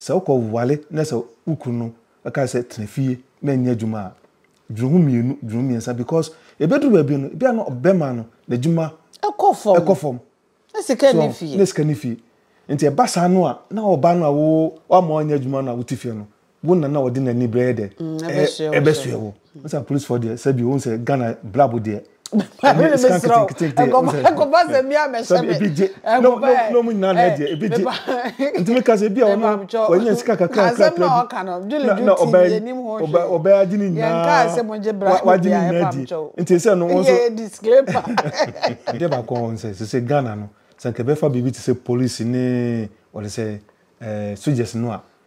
Sɛ wokɔ ware na sɛ wo kunu no ka sɛ tena fie na nyɛ adwuma a, dwene ho mmienu, dwene ho mmiɛnsa because ɛbɛduru baabi no, ebia na ɔbarima no n'adwuma kɔ fam, kɔ fam. Na sika nni fie. Na sika nni fie. Nti ɛba saa no a, na ɔbaa no a wo, woama ɔnyɛ adwuma no a wote fie no, wo na na ɔde n'ani brɛ yɛ dɛ? Ɛbɛsoɛ wo. Ɔsɛ apolisifoɔ deɛ sɛbi ohun sɛ Ghana brabo deɛ. Ɛnyɛ esika nketenkete deɛ. Ɛkɔba sɛ mi a mɛhyɛ mi. Ebi gye. N'ɔmu nyinaa na ɛdeɛ ebi gye. Nti mi ka sɛ ebi a ɔno wɔnyɛ sika kakra kakra bi. Na ɔbɛ ɔbɛ ɔbɛ agye ne nyinaa. Wagye ne nyinaa di. Nti sɛ no wɔn so. Adeɛ baako a wɔn sɛ sɛ Ghana no sɛ nkɛbɛfa biribi te sɛ polisi ne wɔde sɛ ɛɛ sogyɛs no a.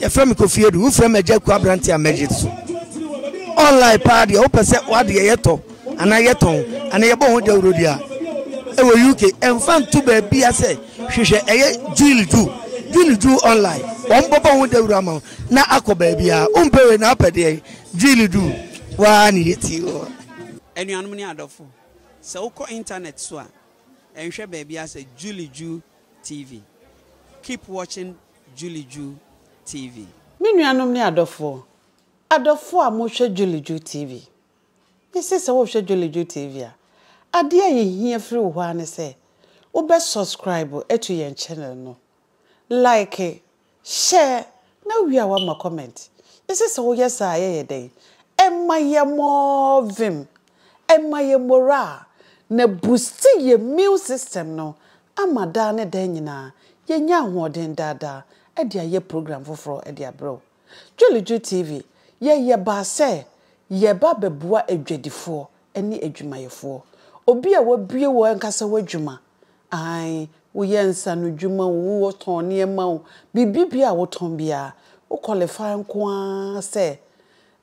yɛfrɛ me kofi adu wofrɛ me agya ku aberante a mɛgye so online paa deɛ wopɛ sɛ wadeɛ yɛtɔ anaa yɛtɔn anaa yɛbɔ ho dawurodi a ɛwɔ uk ɛmfa nto baabia sɛ hwehwɛ ɛyɛ jule ju jule ju online wɔn bɔbɔ ho dawuro ama na akɔ baabia wompɛ wei na apɛ deɛ jule ju waa ne yɛti wɔ anuanom ne adɔfo sɛ wokɔ internet so a ɛnhwɛ baabia sɛ jule ju TV keep watching Julie Ju TV. Me nuanom ne adɔfoɔ, adɔfoɔ a mohwɛ Julie Ju TV, mese sɛ wohwɛ Julie Ju TV a, adeɛ a yɛhia firi wo hɔ ara ne sɛ wobɛ subscribe ato yɛn channel no, like Hyɛ na wie a wama comment. Yɛsɛ sɛ woyɛ saa a yɛyɛ dɛn? Ɛma yɛ more vim, ɛma yɛ moral, na boosti yɛ immune system no ama daa ne daa nyinaa yɛnya ahoɔden daa daa de ayɛ program foforɔ de abrɛ wo. Dwelidwo TV, yɛyɛ baa sɛ yɛba bɛboa adwadifoɔ ne adwumayɛfoɔ. Obi a wabue wo ankasa w'adwuma Aane, woyɛ nsa ano adwuma o, wotɔn nneɛma o, biribi biara a wotɔn biara, wo qualify nko ara sɛ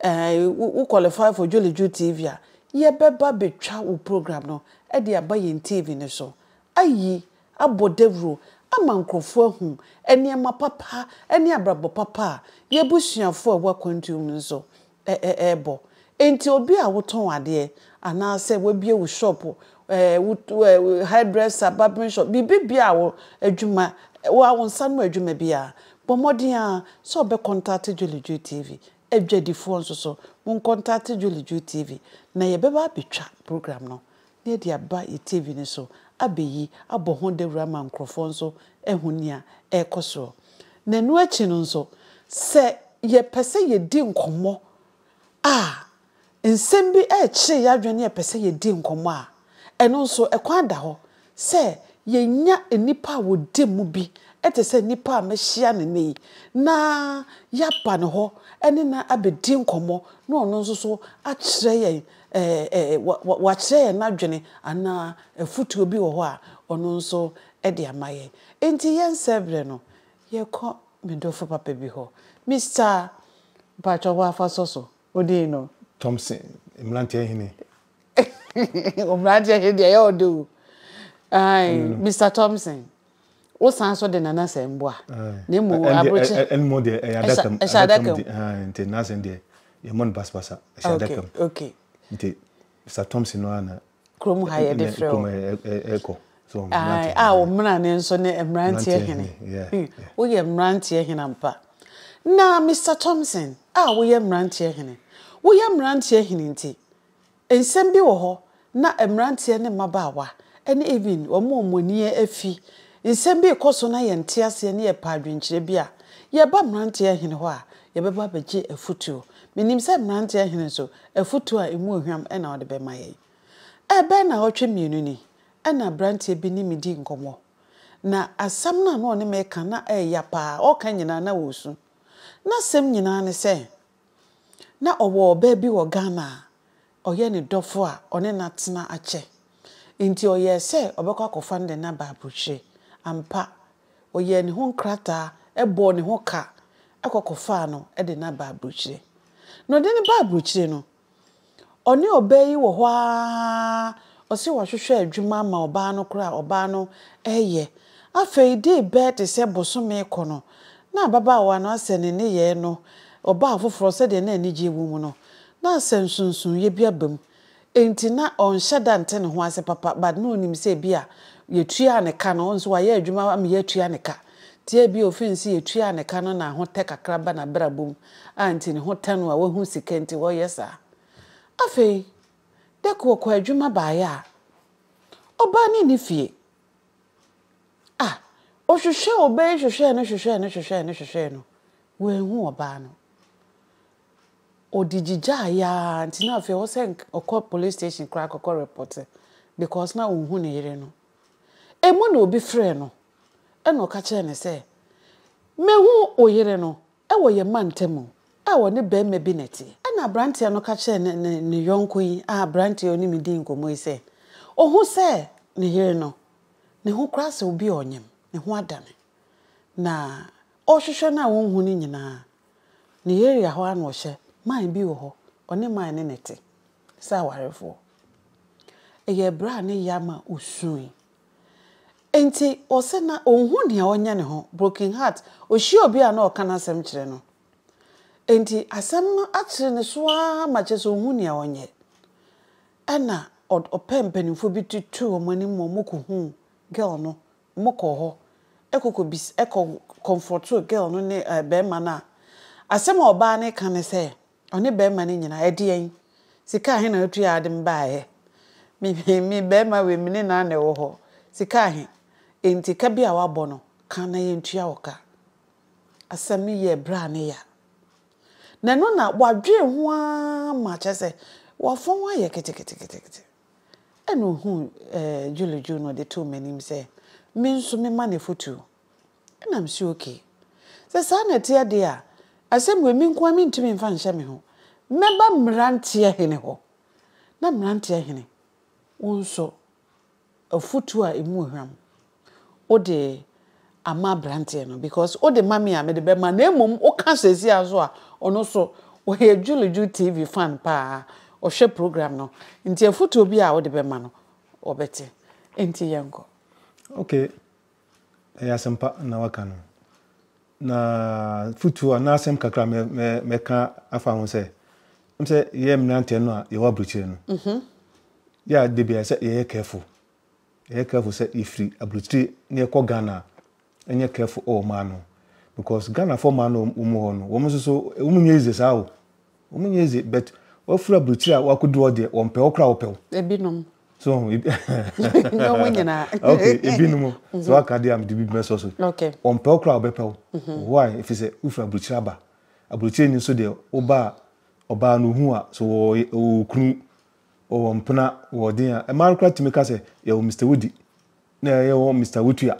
ɛɛ wo qualify for Dwolodwo TV a, yɛbɛba abɛtwa wo program no de aba yɛn TV no so ayi, abɔ dawuro ama nkorɔfoɔ ahu nneɛma papa ne abrabɔ papa a yɛn abusuafoɔ a ɛwɔ akwantuo mu nso ɛrebɔ. Enti obi a wotɔn adeɛ anaasɛ w'abue wo shop, hair dresser, barbering shop, biribi biara a wo adwuma, wo nsa ano adwuma biara, bɔ mmɔden ara sɛ ɔbɛ kɔntate Jolly Joe TV. Adwadifoɔ nso so, mo nkɔntate Jolly Joe TV na yɛbɛba abɛtwa program no na yɛde aba yɛn TV no so abɛyi abɔ ho dawura ama nkurɔfoɔ nso ahu nea ɛrekɔ soɔ. Na ɛno akyi no nso, sɛ yɛpɛ sɛ yɛdi nkɔmmɔ a, nsɛm bi rekyere yɛn adwene na yɛpɛ sɛ yɛdi nkɔmmɔ a, ɛno nso ɛkwan da hɔ sɛ yɛnya nnipa a wɔdi mu bi te sɛ nnipa a mahyia no nnɛ yi na yɛaba ne hɔ ne no abɛdi nkɔmmɔ na ɔno nso so akyerɛ yɛn Ɛɛ, wakyerɛ yɛn n'adwene anaa afotuo bi wɔ hɔ a ɔno nso de ama yɛn. Enti yɛn sɛberɛ no, yɛkɔ me dɔfo papa bi hɔ, Mister, mpakyɛ woafa sɔ so wo din no? Thompson, mmeranteɛ hene. Wo mmeranteɛ hene deɛ ɛyɛ ɔdɛ o. Ae, Mister Thompson, Wo san so de Nana sɛ mboa. Na emu abrokye. Ɛn mo deɛ ɛyɛ adaka mu. Ɛhyɛ adaka mu. Nti Nana sɛ deɛ yɛ mo no basabasa. Ɛhyɛ adaka mu. Okay. Nti Mr Thompson no ana. Kurom ha yɛ de frɛ o. Kurom ɛkɔ. So mmeranteɛ. Ah wo mmera ne nso ne mmeranteɛ hene. Yeah. Wo yɛ mmeranteɛ hene ampa. Na Mr Thompson a wo yɛ mmeranteɛ hene. Wo yɛ mmeranteɛ hene nti Nsɛm bi wɔ hɔ na mmeranteɛ ne mmabaawa ne even wɔn a wɔn ani afi, nsɛm bi rekɔ so na yɛnte aseɛ ne yɛpɛ adwenkyerɛ bi a, yɛba mmeranteɛ hene hɔ a, yɛbɛba abɛgye afutuo. Menim sɛ mmeranteɛ hene nso, afutuo a ɛmu ohwam na ɔde bɛma yɛn. Ɛbɛyɛ nnawɔtwe mmienu ni na aberanteɛ bi ne me di nkɔmmɔ, na asɛm no a na ɔne me reka na ɛyɛ ya paa, ɔreka nyinaa na ɔresu. N'asɛm nyinaa ne sɛ, Na ɔwɔ ɔbaa bi wɔ Ghana a ɔyɛ ne dɔfo a ɔne no atena akyɛ. Enti ɔyɛe sɛ ɔbɛkɔ akɔfa no de no aba aburokyire. Ampa, ɔyɛɛ ne ho nkrataa, bɔɔ ne ho ka kɔ kɔfaa no de no aba aburokyire. Na ɔde no baa aburokyire no, Ɔne ɔbaa yi wɔ hɔ ara, ɔse wahwehwɛ adwuma ama ɔbaa no koraa a ɔbaa no reyɛ. Afei dee bɛɛ te sɛ bosome rekɔ no, na ababaawa no asɛ ne nneyɛɛ no ɔbaa foforɔ sɛdeɛ na anigyeɛ wɔ mu no, na asɛ nsonsonoeɛ bi aba mu. Enti na ɔnhyɛ da nte ne ho ase papa, but na ɔnim sɛ ebia yɛtuaa ne ka no, nso wayɛ adwuma ama yɛatua ne ka, nti ebia ɔfeel sɛ yɛtuaa ne ka no na ahotɛ kakra ba n'abrabɔ mu. a nti ne ho tɛ no a wahu sika nti ɔreyɛ saa. Afei Dɛko ɔkɔɔ adwuma baeɛ a, ɔbaa no nni fie. Ah, ɔhwehwɛɛ ɔbaa yi hwehwɛɛ no hwehwɛɛ no hwehwɛɛ no hwehwɛɛ no, wanhu ɔbaa no. Ɔde gyigyaeɛ ara nti na afei ɛwɔ sɛ ɔkɔ police station koraa kɔkɔ repɔte because na ɔnhu ne yere no. Emu na obi frɛɛ no ɛna ɔka kyerɛɛ no sɛ, mahu wo yere no, Wɔ yɛn mantam mu a wɔne barima bi na ɛte. Ɛnna aberanteɛ no ka kyerɛɛ ne ne ne yɔnko yi a aberanteɛ a ɔne me dii nkɔmmɔ yi sɛ, Ɔhu sɛ ne yere no, ne ho koraa sɛ obi a ɔnyem, ne ho adane. Na ɔrehwehwɛ no a ɔnhu no nyinaa, ne area hɔ ara na ɔhyɛ, man bi wɔ hɔ, ɔne man no na ɛte sɛ awarefoɔ. Ɛyɛɛ berɛ a ne yam a ɔsuui. Enti ɔsɛ na onhu nea ɔnyɛ ne ho, broken heart, ohyia obi a na ɔka n'asɛm kyerɛ no. Enti asɛm no akyere ne so ara ma kyerɛ sɛ onhu nea ɔnyɛ. Ɛna ɔpɛ mpanyimfo bi tutuu wɔn anim ma wɔkohuu girl no, wɔkɔɔ hɔ ɛkɔkɔ bis ɛkɔ confrɔtoo girl no ne ɛɛ bɛrima no a asɛm a ɔbaa no reka ne sɛ, Ɔne bɛrima no nyinaa, ɛdeɛn? Sika ahe na wotuaa de baeɛ? Me, me, me bɛrima wei, me ne no ara na ɛwɔ hɔ. Sika ahe? Enti ka bi a woabɔ no, ka na yɛntua wo ka. Asɛm no yɛɛ berɛ a ne ya. Na ɛno na wadwene ho ara ma kyerɛ sɛ wafɔn ayɛ keteketekete. Ɛna ɔhuu ɛɛ Julie Ju na ɔde too m'anim sɛ me nso memma no afotuo. Ɛnna mise okay. Sɛ saa na ɛteɛ deɛ a, asɛm wei me nko ara mentumi mfa nhyɛ me ho. Mɛba mmeranteɛ hene hɔ, na mmeranteɛ hene, wo nso, afotuo a ɛmu wɔ hwam, wode ama aberanteɛ no because wode ma me a mede bɛma na mmom woka seesei ara nso a, ɔno nso, ɔyɛ Julijo TV fan paa, ɔhwɛ program no, nti afotuo biara a wode bɛma no, ɔbɛte. Enti yɛnkɔ. Okay, ɛyɛ asɛmpa na waka no. Na futu a na asɛm kakra mɛ mɛ mɛka afa ho sɛ m sɛ yɛ mmeranteɛ no a yɛwɔ aburokyire no mhm. yɛ a de bia sɛ yɛyɛ careful yɛyɛ careful sɛ yɛfiri aburokyire na yɛkɔ Ghana a ɛnyɛ careful wɔ ɔmaa no because Ghanafoɔ maa no wɔn mu hɔ no wɔn nso so wɔn nyɛ easy saa o. Wɔn nyɛ dze but wafura aburukyire a wakodu hɔ deɛ wɔn pɛ ɔkora wɔpɛ wo. Ebinom. So ho ebi. Nyɛ wɔn nyinaa. Okay ebinom sɛ waka deɛ a mede bi bɛsɔ so. Okay. Wɔn pɛ ɔkora wɔbɛpɛ wo. Why efi sɛ wofura aburukyire aba. Aburukyire ni nso deɛ woba a ɔbaa no ohu a so wɔ ɔwɔ okunu ɔwɔ mpena wɔ ɔden a mmaa no koraa tumi ka sɛ yɛwɔ Mister Wodi na yɛwɔ Mister Wotua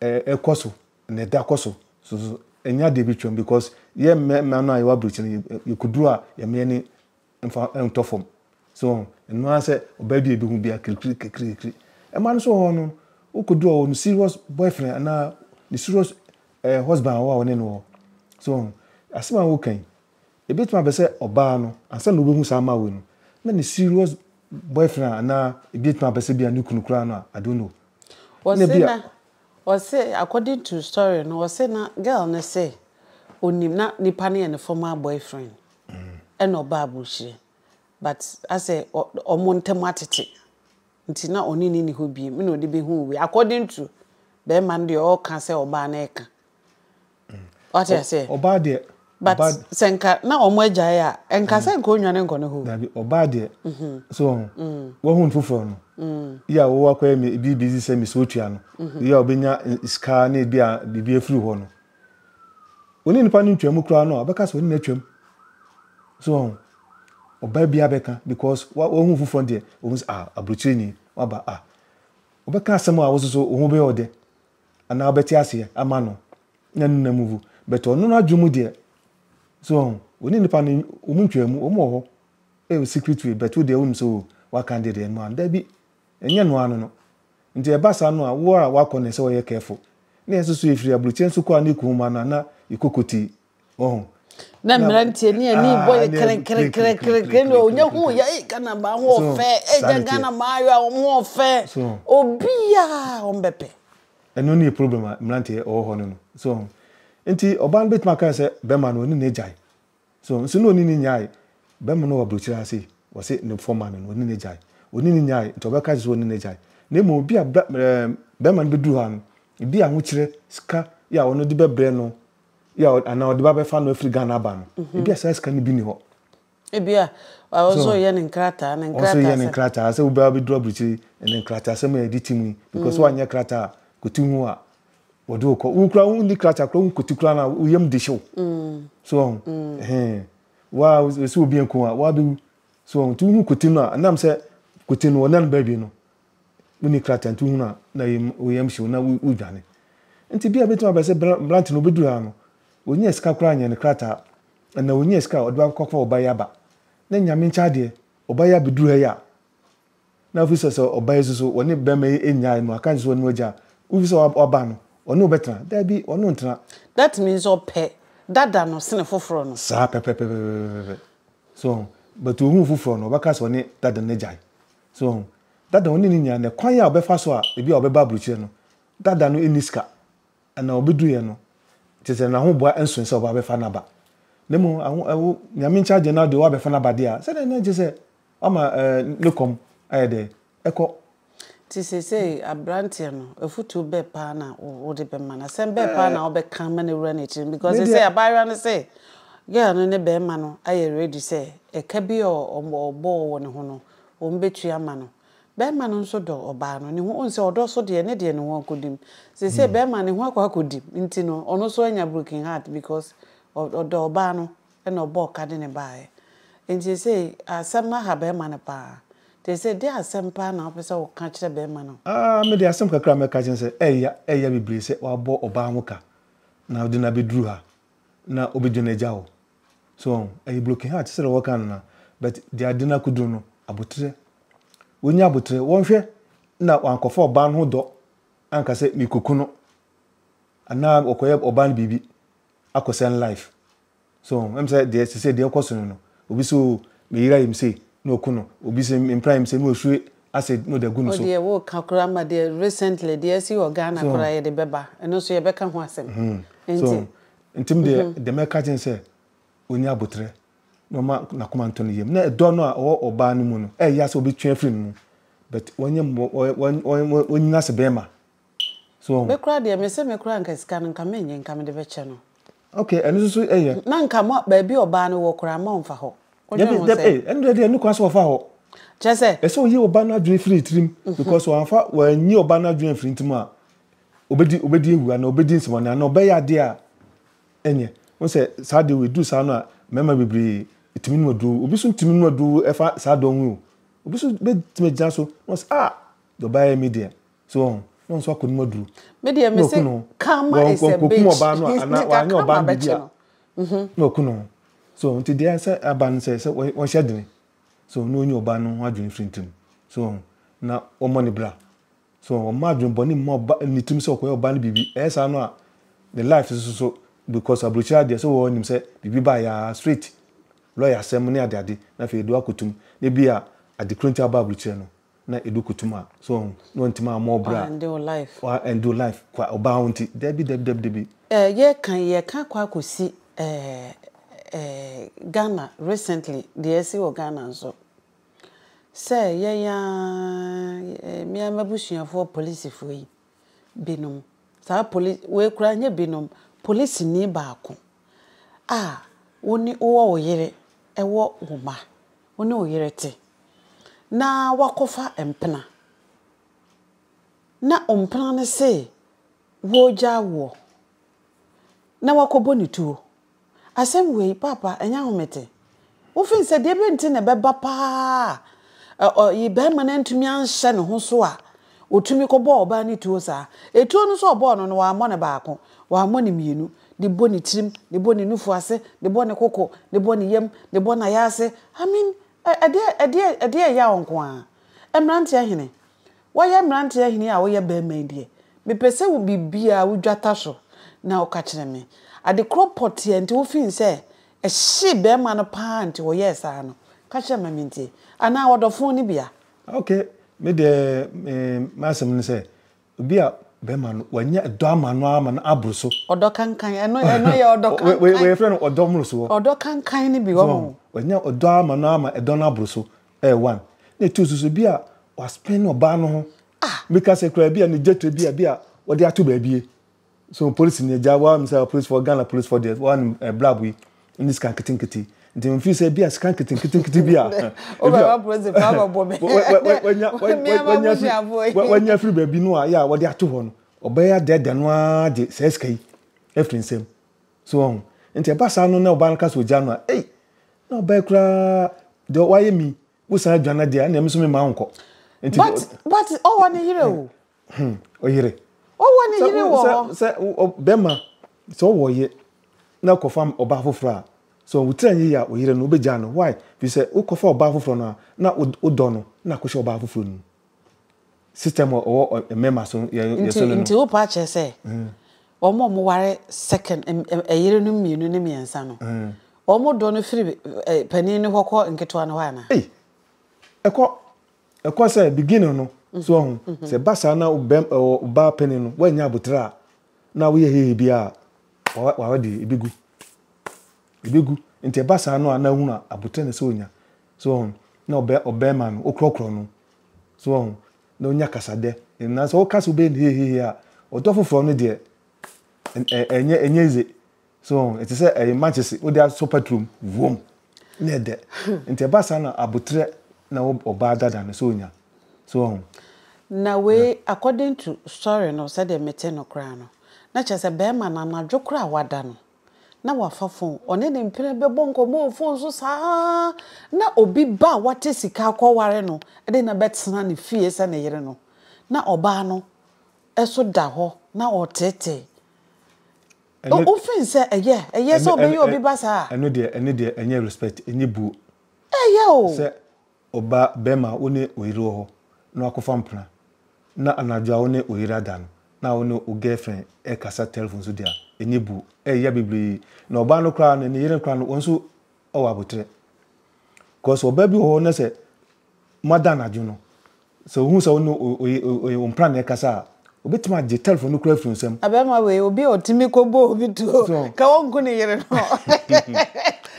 ɛ ɛ kɔ so na ɛda kɔ so soso ɛnyɛ adeɛ bi twam because yɛ mmɛ mmɛ no a yɛwɔ abrikyi no yɛ kuduro a yɛ mmɛ ni mfa ntɔ fam so wɔn ɛno ara sɛ ɔbaa bi a ebi ho bi a kirikiri kirikiri kirikiri ɛma no so wɔn no wo kuduro wɔn no serious boyfriend anaa ne serious ɛ husband wɔ a wɔne no wɔ so wɔn asɛm a wɔka yi Ebetumi aba sɛ ɔbaa no, ansa na obehu saa mma wei no, na ne serious boyfriend a anaa ebetumi aba sɛ ebia ne kunu koraa no a, I don't know. Ɛna Wɔse ebia. na, wɔse according to story no, wɔse na girl no se onim, na nipa no yɛ ne former boyfriend ɛna ɔbaa aburokyire but asɛ ɔ wɔn ntɛm atete nti na ɔne no nni hɔ biem ɛna ɔde behuu wei according to barima no deɛ ɔɔka sɛ ɔbaa no ɛɛka. Wate aseɛ? Ɔbaa deɛ. But sɛ nka na wɔn agyae a, nka sɛ nka onwane nkɔ ne hɔ. Dabi, ɔbaa deɛ. So wɔn ho, wɔn ho foforɔ no. Yɛ a wɔwɔ akɔyɛ mi ebi busy sɛ mi sɛ otua no. Yɛ a ɔbɛnya sika ne ebi a biribi afiri hɔ no. Wɔne nipa no ntwa mu koraa no a, ɔbɛka sɛ ɔne no atwa mu. So wɔn ho, ɔbaa bi abɛka because wa wɔn ho foforɔ deɛ, wɔn sɛ ah aburokyire ni, waba ah. Ɔbɛka asɛm a wɔsoso wɔn ho bɛyɛ ɔdɛ. anaa ɔbɛte aseɛ ama no na ne nam wu but ɔno n'adwene mu deɛ so ɔho ɔne nipa no wɔn ntwaa mu wɔn wɔ hɔ ɛyɛ secret way but wo deɛ wonim sɛ o waka deɛ deɛ noa no dabi ɛnyɛ noa no no nti ɛba saa no a wo a wakɔ na ɛsɛ ɔyɛ careful na yɛn nso so yɛfiri aburukyɛ nso kɔ a ne kɔn mu ana na yɛkɔ kotii Wɔn. na mmeranteɛ ne ani bɔ yɛ kerekerekerekere na ɔnyɛ hu yɛ ee ghana maa ho ɔfɛ ee yɛ ghana maa ayɔ a wɔn ho ɔfɛ obiara wɔn bɛpɛ. ɛno ne yɛ problem a mmeranteɛ ɔwɔ hɔ no no so ɔho nti ɔbaa no bɛtumi aka sɛ bɛrima no ɔne ne gyae so nso na ɔne ne nyae bɛrima no wɔ aburokyire ase wɔse ne fɔma no no ɔne ne gyae ɔne ne nyae nti ɔbɛka sɛ ɔne ne gyae na mmom obi a bɛrima no bɛduru hɔ no ebi ahokyerɛ sika yɛ a ɔno de bɛbrɛ no yɛ anaa ɔde ba bɛfa no afiri Ghana aba no ebi a saa sika no bi ni hɔ. Ebi a ɔsɔ yɛ ne nkrataa ne nkrataa ɔsɔ yɛ ne nkrataa sɛ wobɛ abɛduru aburukyiri ne nkrataa sɛ mo yɛ de ti mu yi because mm. wanyɛ krataa kɔti ho a wɔde okɔ wokura wo ni krataa kura wo nkɔti kura na wo yam de hyew mm. so ɔho mm. ɛhɛn wa sɛ obi nko a wa bɛwu so ɔho nti wohu kɔti no a nam sɛ kɔti no wɔnɛ no baabi no wonni krataa nti wohunu a na wo yam hyew na wudwane. Nti bia ebetumi aba sɛ Blantyre no obeduru ha no onyaa sika koraa nyɛ ne krataa anaa onyaa sika a ɔde akɔfa ɔba yi aba na Nyame nkyɛ adeɛ ɔba yi abeduru ha yi a na afei sɛ sɛ ɔba yi nso so ɔne bɛrima yi nnyae no aka nso ɔne no agya wofi sɛ waba no ɔne wo bɛtena daabi ɔne wo ntena. That means ɔpɛ dada no sene foforɔ no. Saa pɛpɛpɛpɛpɛpɛpɛ so ho but ohuu foforɔ no ɔbɛka sɛ ɔne dada no agyae So wahu? Dada ɔne ne nua nnɛ, kwan a ɔbɛfa so a ebi a ɔbɛba aburokyire no, dada no nni sika. Na ɔbɛduruiɛ no, kyerɛ sɛ n'ahoboa nsoe sɛ ɔbɛfa no aba. Na mmom aho ɛwo Nyame nkyɛ agye na ɔde wo abɛfa no aba deɛ a, sɛdeɛ na agye sɛ wama ɛɛ ne kɔm ayɛ dɛ ɛkɔ. Nti seesei abranteɛ no, afutuo bɛɛ paa na wode bɛma no? Asɛm bɛɛ paa na wobɛka ama no awura no akyire no? Because seesei abaayewa no se girl no ne barima no ayɛ ready sɛ ɛka bi a ɔbɔɔ wɔ ne ho no, wɔbɛtua ama no. Bɛrima no nso dɔ ɔbaa no. Ne ho, wohu sɛ ɔdɔ so deɛ, ne deɛ ne ho akɔdim. Seesei bɛrima ne ho akɔ akɔdim nti no, ɔno nso anya broken heart because ɔdɔ ɔbaa no na ɔbɔɔ ka de no baeɛ. Nti seesei asɛm no aha bɛrima no paa. Nti seesei deɛ asɛm paa na wopɛ sɛ woka kyerɛ bɛrima no? Ah, me deɛ asɛm kakra a mɛka kyerɛ no sɛ, ɛya, ɛya bebree sɛ wabɔ ɔbaa ho ka na ɔde no abɛduru ha. na obegye no agya hɔ so wɔn ɛyɛ broken heart sɛdeɛ wɔka no na but deɛ ade no akoduru no abotrɛ wɔnya abotrɛ wɔnhwɛ na wankɔfa ɔbaa no ho dɔ anka sɛ mekɔku no anaa ɔkɔyɛ ɔbaa no biribi akɔsɛ no life so ɛm sɛ deɛ sɛ deɛ ɛkɔ so no no obi sɛ o meyira yim sei na ɔku no obi sɛ mempra yim sei na ɔhwire asɛ na ɔde agu no so. Wo deɛ woka koraa ma deɛ recently deɛ asi wɔ Ghana koraa yɛde bɛba ɛno nso yɛbɛka ho asɛm nti. Nti me deɛ deɛ mɛka akyerɛ no sɛ ɔnya aboterɛ na ɔma n'akoma ntɔ ne yam na ɛdɔ no a ɔwɔ ɔbaa no mu no ɛyɛ a sɛ ɔbɛtwe afiri ne mu but wɔnyɛ mmɔ wɔnyina sɛ bɛrima. So wahu? Me koraa deɛ me se me koraa nka sika no nka me nye nka me de bɛkyɛ no. Okay ɛno nso so ɛyɛ. Na nka mo baabi ɔbaa no wɔ koraa mma ɔnfa hɔ. Wodwen ho sɛ. Ee ɛno deɛ deɛ ɛno koraa sɛ ɔfa hɔ. Kyɛ sɛ. Ɛsɛ ɔyi ɔbaa no adwene firi ne tirim because wanfa wanyi ɔbaa no adwene amfiri ne tirim a obedi obedi awu anaa obedi nsɛmɔne anaa ɔbɛyɛ adeɛ a ɛnyɛ. Wohu sɛ saa adeɛ wei ɛduru saa no a mmarima bebree ɛtumi nom aduro. Obi nso ntumi nom aduro ɛfa saa dɔn ho o. Obi nso bɛtumi agyina so na ɔse ah deɛ ɔbaa yɛ me deɛ so wɔn na wɔn nso akɔ anim aduru. me deɛ me se karma is a bitch wɔn ɔbaa no a anaa wɔanyɛ ɔbaa no biribi a mhm. na wɔku no so nti deɛ sɛ aba no sɛ sɛ wɔhyɛ dene so na wɔnyi ɔbaa no ho adwene firi ntirim so wɔn na wɔmmɔ ne bra so wɔn mma adwene bɔ ne mma ɔba ne tirim sɛ ɔkɔyɛ ɔbaa no biribi ɛyɛ saa no a ne life so so because aburokyire adeɛ sɛ wɔn nim sɛ biribi ba yɛ straight lɔya asɛm ne adeade na afei de wakɔtum na ebi a adekoro nti aba aburokyire no na edu kutum a so ɔho na ɔntumi ammɔ wo bra wa end wo life kwa ɔbaa wo nti dabi dabi dabi dabi. Eh yɛka yi yɛka akɔ akɔsi eh eh Ghana recently deɛ asi wɔ Ghana nso sɛ yɛn aa eh me aa m'abusuafoɔ polisifoɔ yi. binom. Saa poli wei koraa ɛnyɛ binom, polisini baako a wo ne wowɔ wo yere wɔ wo mma, wo ne wo yere te na woakɔfa mpena na mpena no se ɔregyaa woɔ na woakɔbɔ no tuo. Asɛm wei, paapa, ɛnyɛ ahomete. Wofii sɛ deɛ bɛ nti na ɛbɛba paa a ɔyi bɛrima no antumi anhyɛ ne ho so a ɔtumi kɔbɔɔ ɔbaa no tuo saa. Etuo no nso a ɔbɔɔ no no, wammɔ no baako, wammɔ no mmienu. De bɔ ne tirim, de bɔ ne nufu ase, de bɔ ne koko, de bɔ ne yam, de bɔ n'ayaase. I mean, ɛdeɛ ɛdeɛ ɛdeɛ ɛya wo nko ara. Mmeranteɛ hene, Woyɛ mmeranteɛ hene a woyɛ barima yi deɛ, mepɛ sɛ wo biribiara wodwata so na woka kyerɛ me. Ade korɔ pɔtee a nti wofii sɛ ɛhyee barima no pa ara nti ɔyɛɛ saa no, ka kyerɛ me ma mentie. Anaa ɔdɔfo ne bea? Ok, me deɛ me m'asɛm ne sɛ, obi a barima no wanya dɔ ama no ara ma no aboro so. Ɔdɔ kankan, ɛno ɛno yɛ ɔdɔ kankan. Wei wei yɛfrɛ no ɔdɔ mmorosoɔ. Ɔdɔ kankan ne bi, wahunu. Wanya ɔdɔ ama no ara ma ɛdɔ no aboro so. ɛyɛ one na ɛtu nso so bi a waspend ɔbaa no ho ah meka sɛ koraa bi a ne gyatra bi a bi a wɔde ato baabie so polisi ne agya wɔn sɛ polisifoɔ Ghana polisifoɔ deɛ wɔn eh, blabo yi ne sika nketenkete nti mfiri sɛ bi a sika nketenkete bi a wanya firi baabi no a yɛ a wɔde ato hɔ no ɔbɛyɛ adɛɛdɛ no ara de saa sika yi afiri nsam So wahu? Enti ɛba saa no na ɔbaa no ka sɛ ogyaa no a, ei, na ɔbaa yi koraa, deɛ wayɛ me yi, wosan adwane no deɛ a, ɛnneɛ me nso memma wo nkɔ. Enti, But, but ɔwɔ ne yere o. hmm, ɔyere. Ɔwɔ ne Sɛ yere wo- wɔ sɛ hɔ. sɛ wo- ɔ- bɛrima sɛ ɔwɔ ɔyɛ na kɔfa ɔbaa foforɔ a, sɛ wotira nyɛ yie a ɔyere no wobɛgyaa no. Why? Firi sɛ wokɔfa ɔbaa foforɔ no a, na wo- wodɔ no na akɔhyɛ ɔbaa foforɔ no mu. system a ɔwɔ mmarima so yɛ yɛ Nti so no no. nti wopa akyerɛ sɛ wɔn a wɔware second em- em- ɛyerenom mmienu ne mmiɛnsa no wɔn dɔ no firi eh, panin no hɔ kɔ nketewa no hɔ anaa? Ei, ɛkɔ ɛkɔ sɛ beginning no so ɔho sɛ ba saa na ɔbɛm ɛwɔ ɔbaa panin no wɔanya abotire a na woyɛ hehe bi a wawa wawa deɛ ebi gu ebi gu nti ɛba saa no a na ehunu abotire na ɛsɛ onya So woahu? Na ɔbɛ, ɔbɛɛma no, wokorɔkorɔ no. So woahu? Na onya kasadɛ. Na sɛ woka sɛ wobɛyɛ no hehehe a, ɔdɔ foforɔ no deɛ, ɛ, ɛ, ɛnyɛ, ɛnyɛ easy. So woahu? Ɛte sɛ ɛyɛ mankyese, wode asɔ paturo mu, vuom, na ɛdɛ. Nti ɛba saa na aboterɛ na wo, ɔbaa dada no, sɛ onya. So woahu? Na wei, according to story no, sɛdeɛ mete no koraa no, na kyerɛ sɛ bɛɛma no, anadwo koraa a wada no, na wafa fon, ɔne ne mpena bɛbɔ nkɔmmɔ wɔ fon so saa na obi ba a wate sika akɔware no de no abɛtena ne fie sɛ ne yere no, na ɔbaa no nso da hɔ na ɔreteetee. Ɛno- O- Wofeel sɛ ɛyɛ ɛyɛ sɛ Ɛno- ɔbɛyɛ ɛno- obi ba saa a? Ɛno deɛ, ɛno deɛ ɛnyɛ respect, ɛnyɛ buo. Ɛyɛ o! Sɛ Ɔba barima a wo ne wo yere wɔ hɔ na wakɔfa mpena na anadwo a wo ne wo yere ada no na wo ne wo girlfriend rekasa telephone so de a, ani bu. Ɛyɛ ya bebree. Na ɔbaa no koraa no, ne yere no koraa no, wɔn nso wɔ aboterɛ. Because ɔbaa bi wɔ hɔ na sɛ moada anadwo no, Sɛ ohun sɛ wo ne ɔyɛ wo mpena na ɛrekasa a, obetumi agye telefon no koraa afi wo nsam. Abarima wei, obi a ɔtumi kɔbɔ obi tuo ka ɔnku ne yere no.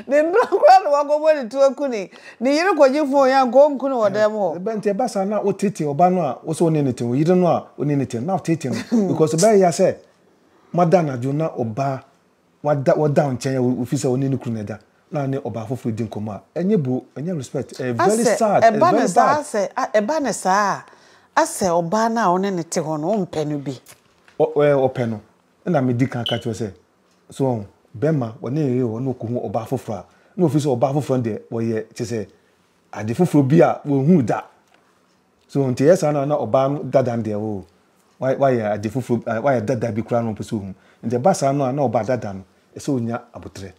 Ne mpena koraa na wakɔbɔ ne tuo aku ne ne yere kɔgye fon yi anka ɔnku no wɔ dan mu hɔ. Ebɛn nti? Ɛba saa na woteetee ɔbaa no a wose wo ne no te no, yere no a wo ne no te no, na woteetee no because ɛbɛyɛ ya sɛ moada anadwo na ɔbaa wada wɔda wo nkyɛn a wofi sɛ ɔne ne kunu na ɛda na ɔne ɔbaa foforɔ di nkɔmmɔ a ɛnyɛ bro ɛnyɛ respect ɛyɛ very Asɛ sad ɛyɛ ɛba no very saa bad. asɛ a ɛba no saa a asɛ ɔbaa no a ɔne no te hɔ no wompɛ no bi. Ɔ ɔ ɛɛ ɔpɛ no ɛna medi kan ka kyerɛ wo sɛ so wahu bɛrima ɔne ne yere wɔ hɔ na ɔkɔhu ɔbaa foforɔ a na ɔfiri sɛ ɔbaa foforɔ no deɛ ɔyɛ kyerɛ sɛ ade foforɔ bi a wɔnhuu da. So nti ɛyɛ saa na na ɔbaa no dada no deɛ oh wayɛ ade foforɔ eh, wayɛ dada bi koraa na ɔmpɛ sɛ ɔhu. Nti ɛba saa no a na ɔbaa dada no ɛsɛ ɔnya aboterɛ.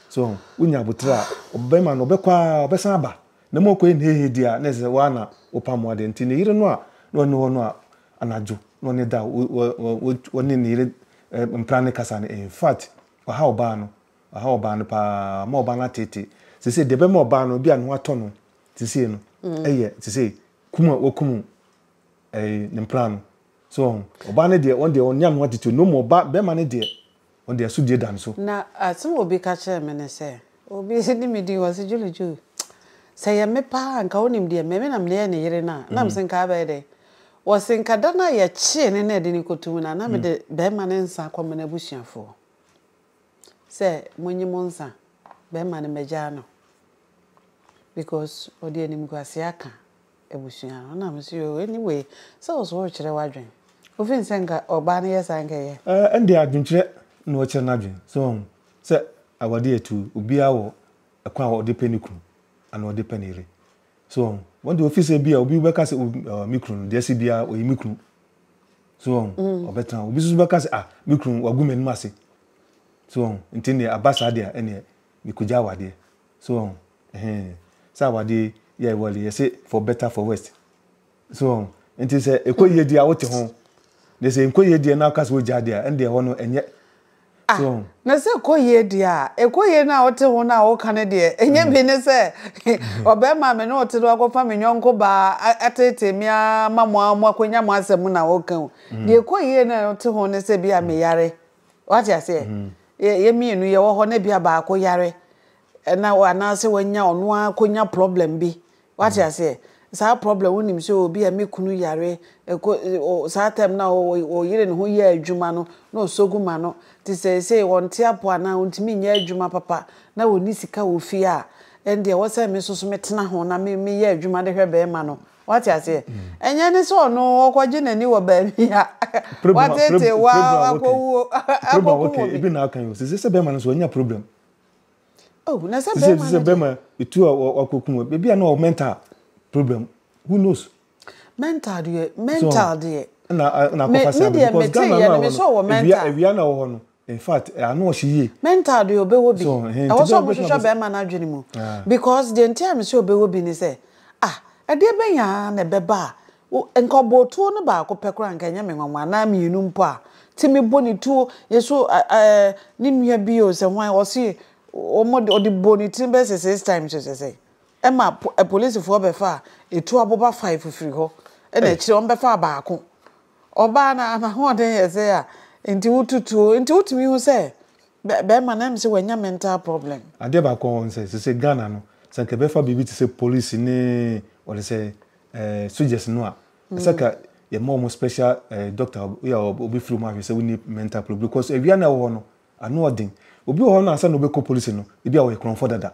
So ho, wonya aboterɛ a ɔbɛma no ɔbɛkɔ ara ɔbɛsan aba. Na mu ɔkɔyɛ no hehe deɛ a na ɛsɛ sɛ wo ara na wopamoa deɛ. Nti ne yere no a na ɔne hɔ no a anadwo na ɔne da ɔne ne yere eh, mpena ne kasa no in fact ɔha ɔbaa no, ɔha ɔbaa no paa, ɔma ɔbaa no ateetee. Seesei deɛ ɛbɛma ɔbaa no ebia ne ho atɔ no te sei no yɛ te sɛ kum a wɔkum ne mpra no so wɔn ɔbaa no deɛ wɔn deɛ wɔn nyam ho atete no mu ɔbaa bɛrima no deɛ wɔn deɛ so die dan so. na asɛm obi ka kyerɛ me ne sɛ obi ne me din wɔsi Julie Julie sɛ yɛ me paa nka wonim deɛ mɛmi na meyɛ ne yere na na msi nka abɛyɛ dɛ wɔsi nka da no a yɛkyee ne na ɛde ne kɔto mu na na me de bɛrima ne nsa akɔma n'abusuafoɔ sɛ monyi mo nsa bɛrima no mɛgyaa no. because ɔde animguaseɛ aka abusua no na mese oh anyway sɛ wo so worekyerɛ w'adwen wo feel sɛ nka ɔbaa no yɛ saa nka ɛyɛ. Ɛɛ ɛnde adwenkyerɛ na ɔkyerɛ n'adwen so wahu sɛ awadeɛ atu obiara wɔ ɛkwan a ɔde pɛ ne kunu anaa ɔde pɛ ne yere so wahu wɔn deɛ ɔfeel sɛ bia obi bɛka sɛ oh me kunu no deɛ ɛsɛ biara ɔyɛ me kunu so wahu ɔbɛtena hɔ obi nso bɛka sɛ ah me kunu wagu m'anim ase so wahu nti ɛnneɛ aba saa deɛ a ɛnneɛ Mekɔgya awadeɛ so wahu ɛhee sɛ awadeɛ yi yɛ ɛwɔ de yɛse for better for worst so wahu nti sɛ ɛkɔ yie deɛ a wote ho deɛ sɛ ɛnkɔ yie deɛ na woka sɛ wogyaa deɛ a ɛndeɛ hɔ no ɛnyɛ so wahu. Na sɛ ɛkɔ yie deɛ a ɛkɔ yie no a wote ho no a woka no deɛ ɛnyɛ bi ne sɛ ɔbarima a me ne wo te no wakɔfa me yɔnko baa atetee me ara ma mo ara moakɔnya mo asɛm na woka o deɛ ɛkɔ yie no a wote ho ne sɛ bi a meyare Wate aseɛ? Mm. Yɛ yɛ mmienu yɛwɔ hɔ na bia baako yare ɛna anaasɛ wanya ɔno ara kɔnya problem bi. Wate mm. aseɛ? Saa problem wonim sɛ obi a me kunu yare ɛkɔ saa time na ɔyere ne ho yɛ adwuma no na ɔsɔgu ma no te sɛ sɛ ɔnte apo anaa ɔntumi nyɛ adwuma papa na ɔni sika wɔ fie a ɛndeɛ wɔ sɛ me soso metena ho na me meyɛ adwuma de hwɛ bɛrima no. Wate aseɛ? Ɛnyɛ ne sɛ ɔno ɔkɔgye n'ani wɔ baabi a watete wa akɔwuo akɔkum obi. Ebi na aka yi o. Sisi sɛ bɛrima no so ɔnya problem. Oh, na sɛ bɛrima no. Sisi sɛ bɛrima etu a wakɔkum o. Ebi a na ɔ mental problem. Who knows? Mental deɛ, mental deɛ. Na na akɔfa sɛ abɛn because Ghana no a wɔ no. Ewia ewia na wɔ hɔ no. In fact ano ɔhye yie. Me ntaadeɛ ɔbɛwɔ bi. Ɛwɔ sɛ ɔmohwehwɛ bɛɛma no adwene mu because deɛ nti a mese ɔbɛwɔ bi ne sɛ ah ɛdeɛ bɛn ara na ɛbɛba a nka ɔbɔɔ tuo no baako pɛ koraa a nka ɛnyɛ me nwanwa anaa mmienu mpo a nti mebɔ ne tuo yɛ so ɛɛ ne nua bi o sɛ hwan ɔse ɔmode ɔde bɔɔ ne tiri bɛyɛ sɛ six times o sɛ sɛn ɛma apolisifoɔ bɛfaa ɛtuo aboba five firi hɔ ɛna akyire ɔmbɛfaa baako Ɔbaa no n'ahoɔden yɛ dzen a ntsi wotutu o, ntsi wotumi hu sɛ bɛrima no ɛmse wanya mental problem. Adeɛ baako a ɔwɔ ne sɛ, sese Ghana no, sɛ nka yɛbɛfa biribi te sɛ polisi ne wɔde sɛ eh, sogyɛs no a, ɛsɛ ka yɛma wɔn special eh, doctor bi a ɔbɛfiri wɔn ahwɛ sɛ wonni mental problem because awia no a ɛwɔ hɔ no, ano ɔden. Obi wɔ hɔ no ansa na ɔbɛkɔ polisi no, ebi a ɔyɛ korɔmfɔ dada.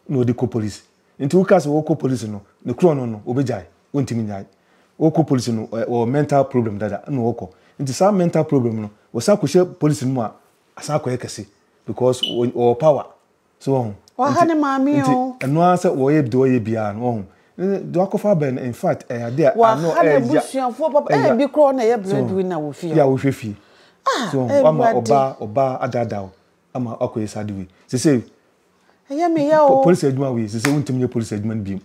na ɔde kɔ polisi nti woka sɛ ɔkɔ polisi no ne korɔ no no ɔbɛgyae ɔntimi nyae ɔkɔ polisi no ɔwɔ mental problem dada na ɔkɔ nti saa mental problem no ɔsan kɔhyɛ polisi no mu a asan akɔyɛ kɛse because ɔwɔ power so wɔho waha ne maame o ɛno ara sɛ wɔyɛ deɛ ɔyɛ biara no wɔho deɛ wakɔfa abɛn no in fact ɛyɛ adeɛ a ano ɛyɛ ya abusuafoɔ papa ɛyɛ bi korɔ na ɛyɛ breadwinner na wɔ fie yɛ a wohwɛ fie ah ɛwɔ ade ama ɔbaa ɔbaa adaadaa ama akɔyɛ saa de wei sɛ sɛ ɛyɛ me yɛ o. polisi adwuma wei sese wontumi nyɛ polisi adwuma no biom.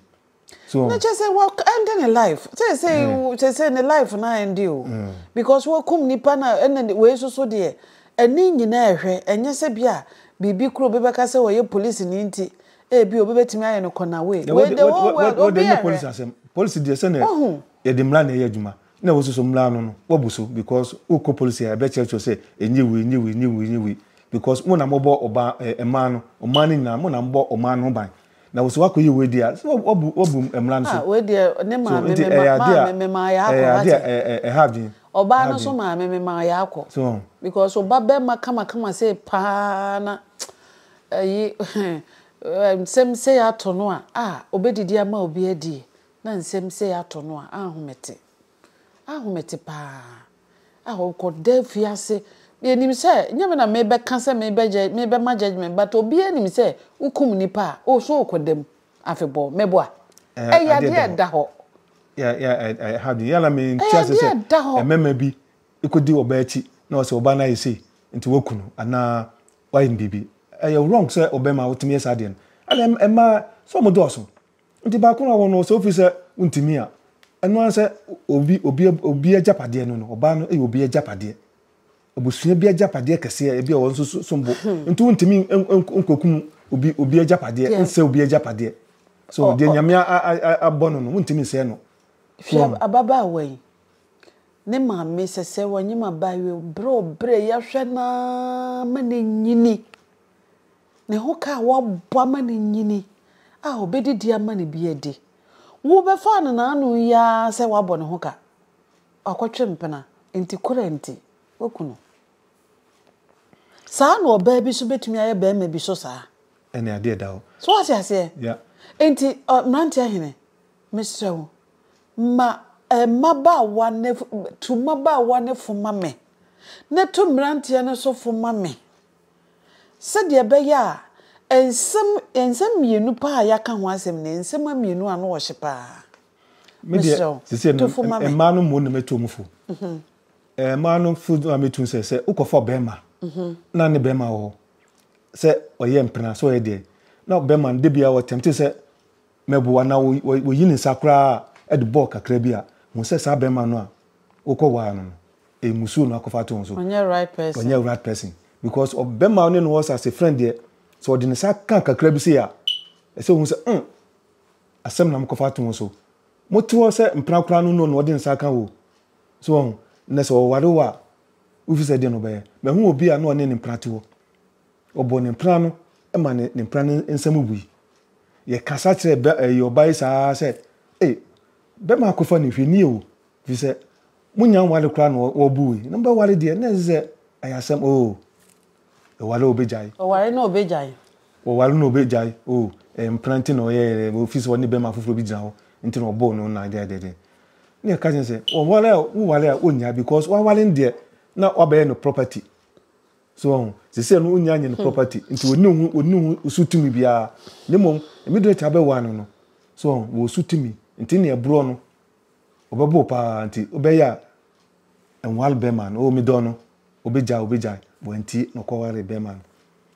so na kyerɛ sɛ wɔ ɛnde ne life sɛ sɛ mm. kyerɛ sɛ ne life na ɛnde o mm. because wɔkum nipa na ɛna wei soso deɛ ɛne nyinaa ɛhwɛ ɛnyɛ sɛ bi a biribi kuro bi bɛka sɛ wɔyɛ polisi ne nti ebi eh, obi bɛtumi ayɛ no kɔna wei wei de wɔn wɔ obi ɛhwɛ polisi deɛ sɛ na yɛde mmira na ɛyɛ adwuma na wosusu mmra ano no woabu so because wokɔ police a ɛbɛkyerɛkyerɛ sɛ ɛnyɛ wei ɛnyɛ wei ɛnyɛ wei ɛnyɛ wei because mo na mobɔ ɔbaa ɛɛ mmaa no mmaa no nyinaa mo na mobɔ ɔman no ho ban na wosɛ woakɔyɛ wei deɛ a sɛ woabu woabu mmra no so Ah wei deɛ ne so maame nti me ɛyɛ ma adeɛ a maame me maa yɛakɔ ɛyɛ adeɛ a wate ɛɛ ɛha adwene ɔbaa ɛha no nso adwene maame me maa yɛakɔ so wɔn because ɔba bɛrima kamakama sei paa na ɛyi hɛn ɛɛ nsɛm sei ato no a ah ɔbɛdidi ama obi adie Na nsɛm sei atɔ no a, ahomete. Ahomete paa. Ah, ɔkɔda afiase. Yɛnim sɛ, nyɛ me na mebɛka sɛ mebɛ judge, mebɛma judgement, but obiara nim sɛ wokum nnipa a, oh, so ɔkɔda mu afebɔɔ. Mɛboa? Eh, Ɛyɛ adeɛ adeɛ a ɛda ɛda hɔ. Yeah, yeah, eh, eh, ɛha adwene. Yala me nte Ɛyɛ ase adeɛ sɛ a ɛda hɔ. mmarima bi kɔdi ɔbaa akyi na ɔsɛ ɔbaa no ayɛ sei nti waku no anaa wayɛ no biribi. Ɛyɛ wrong sɛ ɔbarima a wotumi yɛ saa adeɛ no. Ɛna ɛm- ɛmmaa, so wɔdɔɔso? Nti baako na ɔwɔ no, sɛ wofi sɛ wontumi a, ɛno ara ne sɛ obi, obi, obi agyapadeɛ no no, ɔbaa no yɛ obi agyapadeɛ. Abusua bi agyapadeɛ kɛseɛ, ebi a wɔn nso so- som bo. Nti wontumi n- n- n- nkokum obi, obi agyapadeɛ, Deɛ- nsɛ obi agyapadeɛ. So Ɔ- deɛ ɔ- Nyame a- a- a- abɔ no no, wontumi nsɛe no. So Hwɛ ab- ababaawa yi, ne maame sɛsɛ wɔnyem abaayewa yi, ɔbrɛ ɔbrɛ, yɛahwɛ no ara ma no anyini. Ne ho ka a wɔabɔ ama no nyini a obedi de ama no bi adi. Wobɛfaa no n'ano yi ara sɛ wabɔ ne ho ka. Wakɔtwe mpena, enti kora nti, waku no. Saa na ɔbaa bi nso betumi ayɛ barima bi so saa. Ɛne adeɛ ɛda hɔ. So wate aseɛ? Ya. Enti, ɔ, mmeranteɛ hene, mesrɛ wo, ma eh, mmabaawa ne, tu mmabaawa no fo ma me, na tu mmeranteɛ no so fo ma me. Sɛdeɛ ɛbɛyɛ a nsɛm nsɛm mmienu paa a yɛaka ho asɛm nie, nsɛm mmienu a na ɔhye paa. Me deɛ Mesrɛ wo, sisi ɛno tofo ma me. mmaa no mmom na mɛtu wɔn fo. Ɛɛ mmaa no fo a mɛtu no sɛ sɛ wokɔfa ɔbɛrima na ne bɛrima wɔ hɔ sɛ ɔyɛ mpena sɛ ɔyɛ deɛ na ɔbɛrima no da biara ɔtɛmte sɛ Meboa na oyii ne nsa koraa de bɔɔ kakra bi a, hu sɛ saa barima no a wokɔ waa no no, mmusuo na wakɔfa ato wo so. Ɔnyɛ right person. Ɔnyɛ right person because ɔbarima a wone no wɔ sɛ ase friend deɛ, sɛ ɔde ne sa ka kakra bi sei a, ɛsɛ ohu sɛ mm, asɛm na mokɔfa ato wo so. Mote hɔ sɛ mpena koraa no no na ɔde ne sa ka wo. So wahu? Nnɛ sɛ ɔware wo a, wofi sɛ deɛ na ɔbɛyɛ? Mahu obi a na ɔne ne mpena te hɔ. Ɔbɔɔ ne mpena no ma ne ne mpena no nsa mu bui. Yɛkasa kyerɛɛ bɛ ɛɛ ɔbaa yi saa ara sɛ, Ei, bɛrima akɔfa no hwɛ nie o, ɛfiri sɛ monnya nware koraa na wɔrebo wo yi, na mobɛware deɛ, na ɛsɛ sɛ ɛyɛ asɛm oo, ɛware a ɔbɛgyae. Ɔware na ɔbɛgyae. Ɔware na ɔbɛgyae oo, ɛyɛ mpena nti na ɔyɛɛ dɛ, ɛfiri sɛ ɔne bɛrima foforɔ bi gyina hɔ nti na ɔbɔɔ no na dɛdɛdɛ. Na yɛka kyerɛ no sɛ, ɔware a woware a ɔnnya because waware no deɛ, na wabɛyɛ no property. So wahu? Seesei no onnya nyɛ ne property, nti onni ne ho onni ne ho so tumi biara. Na mmom, mmere a abɛwa no no, so wahu, wɔ so tumi. Nti nea ɛborɔ no, ɔbɛbɔ wo paa, nti wobɛyɛ a nware bɛrima no. Oh, medɔ no. Obegyae, obegyae. Wantie, na ɔkɔwaree bɛrima no.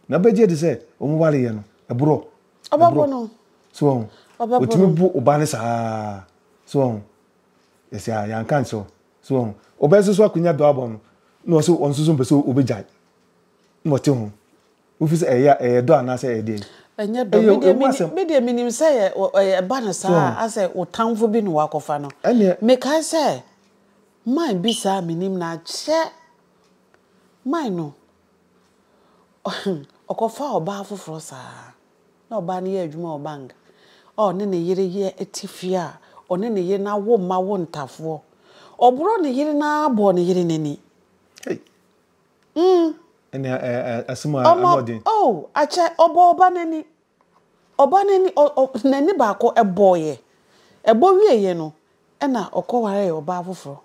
Na wobɛgye adi sɛ wɔwareeɛ no, ɛborɔ. Ɔbɛbo no. So wahu? Ɔbɛbo no. Otumi bo ɔbaa no saa ara. So wahu? Yɛsɛ a, yɛanka nkyerɛ wo. So wɔn ɔbɛ soso akonya dɔ abɔ no na ɔsɛ wɔn soso mpɛ sɛ ɔbɛ gyae na ɔte ho wofi sɛ ɛyɛ ɛyɛ dɔ anaasɛ ɛyɛ deɛ ɛnyɛ dɔ me deɛ me nim sɛ ɛba no saa asɛ wo tamfo bi na wakɔfa no me kae sɛ man bi saa me nim no akyɛ man no ɔkɔfa ɔbaa foforɔ saa. na ɔbaa no yɛ adwuma wɔ bank a ɔne ne yere yɛ te fie a ɔne ne yere no awo mma wo ntafoɔ ɔborɔ ne yere no ara bɔɔ ne yere no ani Hey. mm. ɛne ɛ- ɛ- ɛ- asɛm a ano ɔde ɔmɔ oh akyɛ ɔbɔ ɔba n'ani ɔba n'ani ɔ- ɔ- n'ani baako ɛbɔɔyɛ ɛbɔ wieeɛ no Ɛna ɔkɔwaree ɔbaa foforɔ.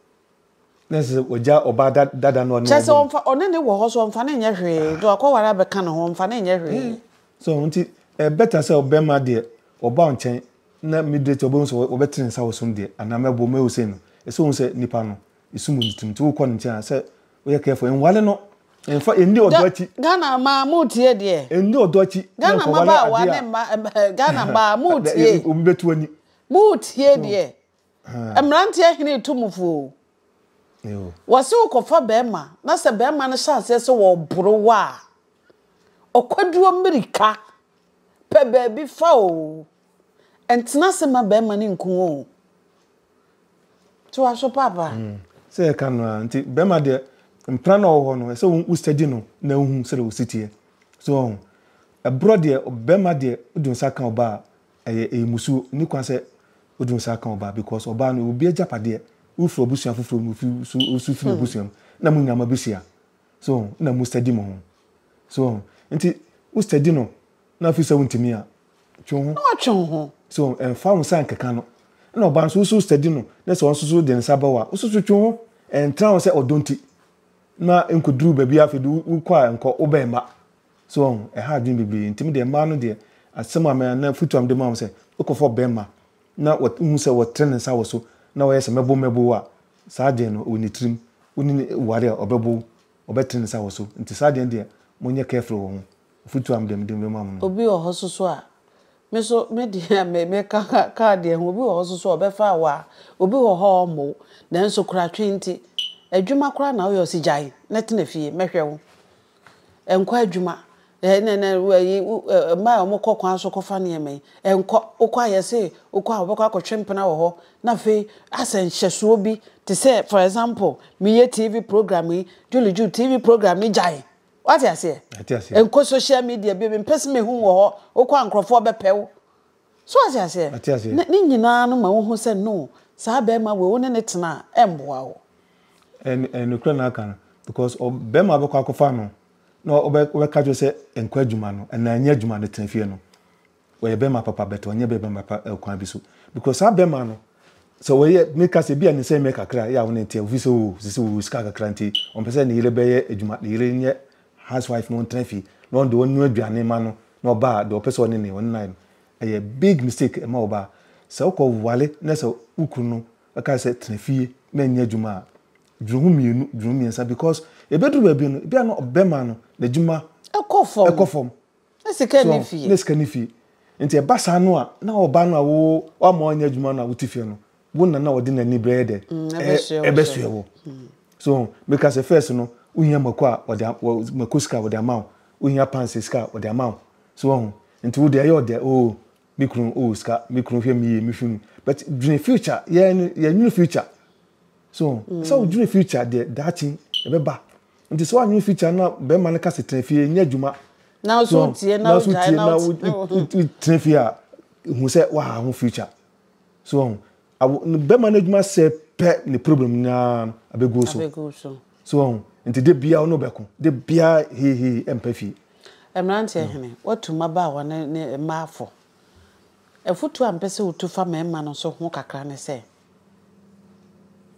Na ɛsɛ sɛ ɔgya ɔbaa da dada no ɔne Kyerɛ sɛ ɔmfa ɔne ne wɔ hɔ so ɔmfa ne nyɛ hwee nti wakɔware abɛka ne ho ɔmfa ne nyɛ hwee. Ɛɛ so ɔho nti ɛyɛ better sɛ ɔbɛma deɛ ɔba ɔnkyɛn na immediately ɔbɛhu sɛ ɔbɛte ne nsa wɔ so no deɛ anaa mɛboɔ mɛyɛ osei no ɛsɛ ɔhu sɛ nipa no esum wɔ ne tirim nti wokɔ ne nkyɛn a sɛ woyɛ careful ɛnwale no ɛnfa ɛnni ɔdɔ akyi. Ghana mmaa mo tie deɛ. Ɛnni ɔdɔ akyi na nkɔwale adeɛ a. Ghana mmabaawa ne mma Ghana mmaa mo tie. Obi bɛtu w'ani. Moretie deɛ mmeranteɛ hene reto mo fo o. Wɔse wokɔfa barima na sɛ barima no hyɛ aseɛ sɛ wɔreboro wo a, ɔkwaduro mmirika, pɛ baabi fa o. Ntena ase mma barima no nku wo o. Nti waso paapa. Sɛ yɛka no a, nti barima deɛ mpena na ɔwɔ hɔ no, ɛsɛ wo study no na wohu sɛdeɛ ɔsi teɛ. So ɔho? Ɛborɔ deɛ, barima deɛ wode wo nsa ka ɔbaa a, Ɛyɛ ɛyɛ musuo nni kwan sɛ wode wo nsa ka ɔbaa because ɔbaa no obi agyapadeɛ wofiri abusua foforɔ mu ofi so osu firi n'abusua mu na mo nyinaa mo abɛhyia so ho na mo steady mo ho so ho nti wo steady no na afiri sɛ wontumi a twe wo ho na watwe wo ho so ho ɛmfa wo nsa nkeka no na ɔbaa nso woso steady no na sɛ ɔnso so de nsa bɛwɔ a woso so twe wo ho ɛntra ho sɛ ɔdɔ nti na nkɔduru baabi afei de wokɔ a nkɔ wobɛn mma So wahu? Ɛha adwene bebree. Enti me deɛ, mmaa no deɛ, asɛm a me, anaa afotu a mede ma wɔn sɛ, wokɔfa ɔbarima na wɔ, wohu sɛ ɔtrɛ ne nsa wɔ so na ɔyɛ sɛ mɛbow mɛbow wo a, saa adeɛ no, wɔ ne tirim, wo ne no ware a, ɔbɛbow wo, ɔbɛtrɛ ne nsa wɔ so. Enti saa adeɛ no deɛ, monyɛ careful wɔ ho. Afotu a me deɛ, mede bɛma mo no. Obi wɔ hɔ nso so a, me nso, me deɛ, me, meka ka, ka adeɛ ho. Obi wɔ hɔ nso so a, ɔbɛfa wo a, obi wɔ hɔ a ɔremmɔ wo, nanso koratwe nti, adwuma koraa na woyɛ, ɔse gyae na tena fie, mɛhwɛ wo. Ɛnkɔ adwuma, mmaa a wɔkɔ kwan so kɔfa nneɛma yi, ɛnkɔ. Wokɔ a yɛse wokɔ a wobɛkɔ akɔtwe mpena wɔ hɔ na afei asɛ nhyɛsoɔ bi te sɛ for example meyɛ TV program yi, Julie Ju TV program no gyae. Woate aseɛ? Ɛnkɔ social media bio, mempɛ sɛ mehu wo wɔ hɔ, wokɔ a nkurɔfoɔ bɛpɛ wo. So wate aseɛ? Mate aseɛ. Ne, ne nyinaa no ma wohu sɛ no, saa bɛrima wei wo ne ne tena a, ɛmboa wo. Ɛn, ɛn nokorɛ na aka no. Because ɔ, bɛrima bɛkɔ akɔfa no, na ɔbɛ, ɔbɛka kyerɛ sɛ nkɔ adwuma no, anaa nyɛ adwuma no, tena fie no. Ɔyɛ bɛrima papa but ɔnyɛ bɛrima papa wɔ kwan bi so. Because saa bɛrima no, sɛ ɔyɛ, meka sɛ, bi a ne nsɛm yɛ kakra a, ɛyɛ a wo ne nteɛ, ɛfiri sɛ o, sese ɔwɔ sika kakra nti, ɔmpɛ sɛ ne yere bɛyɛ adwuma, ne yere nyɛ housewife no ɔntena fie na ɔno deɛ ɔnoa aduane ma no na ɔbaa deɛ ɔpɛ sɛ ɔne ne ɔne no ayɛ no ɛyɛ big mistake ɛma ɔbaa sɛ wokɔ wale na sɛ wo kunu no ɛka sɛ tena fie na ɛnyɛ adwuma a dwene ho mmienu dwene ho mmiɛnsa because ɛbɛduru baabi no ebia no bɛma no n'adwuma ɛkɔ fam ɛkɔ fam Ne sika nni fie. Ne sika nni fie. Nti ɛba saa no a, na ɔbaa no a wo wama ɔnyɛ adwuma no a wote fie no, wo na na ɔde n'ani bɛyɛ dɛ? Ɛbɛsoɛ wo. So meka sɛ first no, wohia mako a ɔde mako sika a ɔde ama wo. Wohia pants sika a ɔde ama wo. So wahu? Nti wo deɛ ɛyɛ ɔdɛ oo me kunu oo sika me kunu hwɛ me yie me hwɛ mu. But dwene future yɛn no yɛnnwene future. So ɛsɛ sɛ wodwene future deɛ daakye ɛbɛba. Nti sɛ woannwen future no a bɛrima no ka sɛ tena fie nyɛ adwuma na nso wotie na wogyae na wotena fie a hu sɛ woaha ho future so ɔho bɛrima no adwuma sɛ pɛ ne problem nyinaa no abɛguo so so ɔho nti de biara ɔno bɛko de biara heihei ɛmpa fie mmeranteɛ mm. hene watu mmabaawa ne mmaafo afotuo a mpɛ sɛ wotu fa mmarima no so ho kakra ne sɛ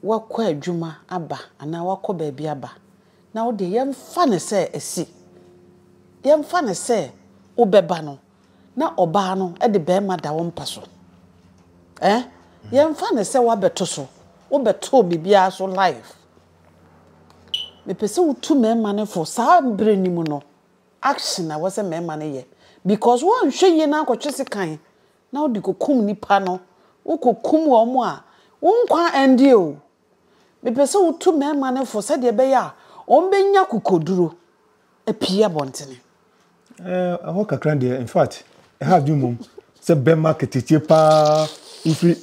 woakɔ adwuma aba anaa woakɔ baabi aba, na wo deɛ yɛmfa no sɛ asi, yɛmfa no sɛ wobɛba no na ɔbaa no de barima da wo mpa so ɛ yɛmfa no sɛ woabɛto so wobɛtoo biribiara so live mepɛ sɛ wotu mmarima no fo saa berɛ no mu no action na wɔ sɛ mmarima no yɛ because woanhwɛ yie na akɔtwe sekan na wode kɔkum nnipa no, wokɔkum wɔn a, wo nkwa nnye o. Mepɛ sɛ wotu mmarima no fo sɛdeɛ ɛbɛyɛ a wɔbɛnya akokoduro apue abɔntene. Eh, ɛhɔ kakra deɛ, in fact, ɛha adwene mmom sɛ bɛma ketekye paa wofiri